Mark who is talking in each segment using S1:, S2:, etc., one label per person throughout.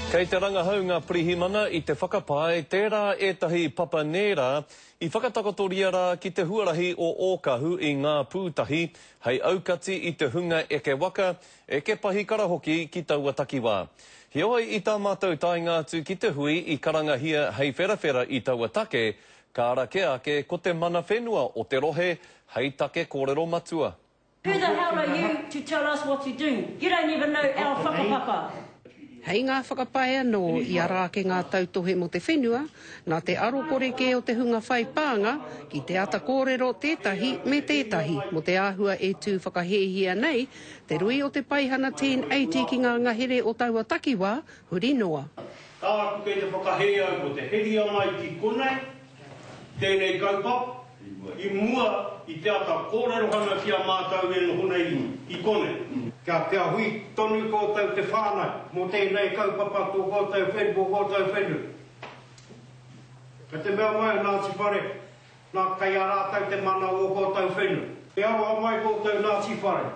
S1: Kei te rangahau ngā pirihimana i te whakapae tērā ētahi papa nērā i whakatakotoria rā ki te huarahi o Ōkahu i Ngā Pūtahi hei aukati i te hunga eke waka, eke pahikara hoki ki taua takiwā. Heoi i tā mātou taenga atu ki te hui i karangahia hei wherawhera i taua take, ka ara kē ake ko te mana whenua o te rohe hei take kōrero matua. Who the hell are
S2: you to tell us what to do? You don't even know our whakapapa. Hei ngā
S3: whakapae anō i ara ake ngā tautohe mō te whenua, nā te aro kore kē o te hunga whai pānga ki te ata kōrero tētahi me tētahi mō te āhua e tū whakahēhia nei te rui o te Paihana 1080 ki ngā ngahere o taua takiwā huri noa. Kāore kei te
S4: whakahē au mō te heria mai ki konei. tēnei kaupapa i mua i te ata kōrerohanga ki a mātou e noho nei i konei. Kia kia hui tonu kōtou te whānau mō tēnei kaupapa tō kōtou whenu, mō kōtou whenu. Kei te mea mai a Ngāti Whare, nā, kei a rātou te mana o ō kōtou whenu. E aroha mai kōtou Ngāti Whare.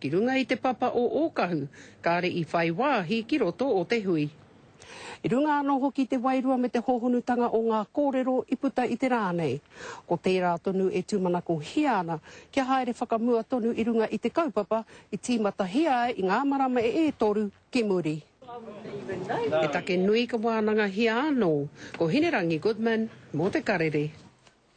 S3: Ki runga i te papa o Ōkahu, kāre i whai wāhi ki roto o te hui. I runga anō hoki i te wairua me te hōhonutanga o ngā kōrero i puta i te rā nei. Ko tērā tonu e tūmanakohia ana kia haere whakamua tonu i runga i te kaupapa i tīmatahia ai i ngā marama e toru ki muri. He take nui ka wānangahia anō ko Hinerangi Goodman mō te karere.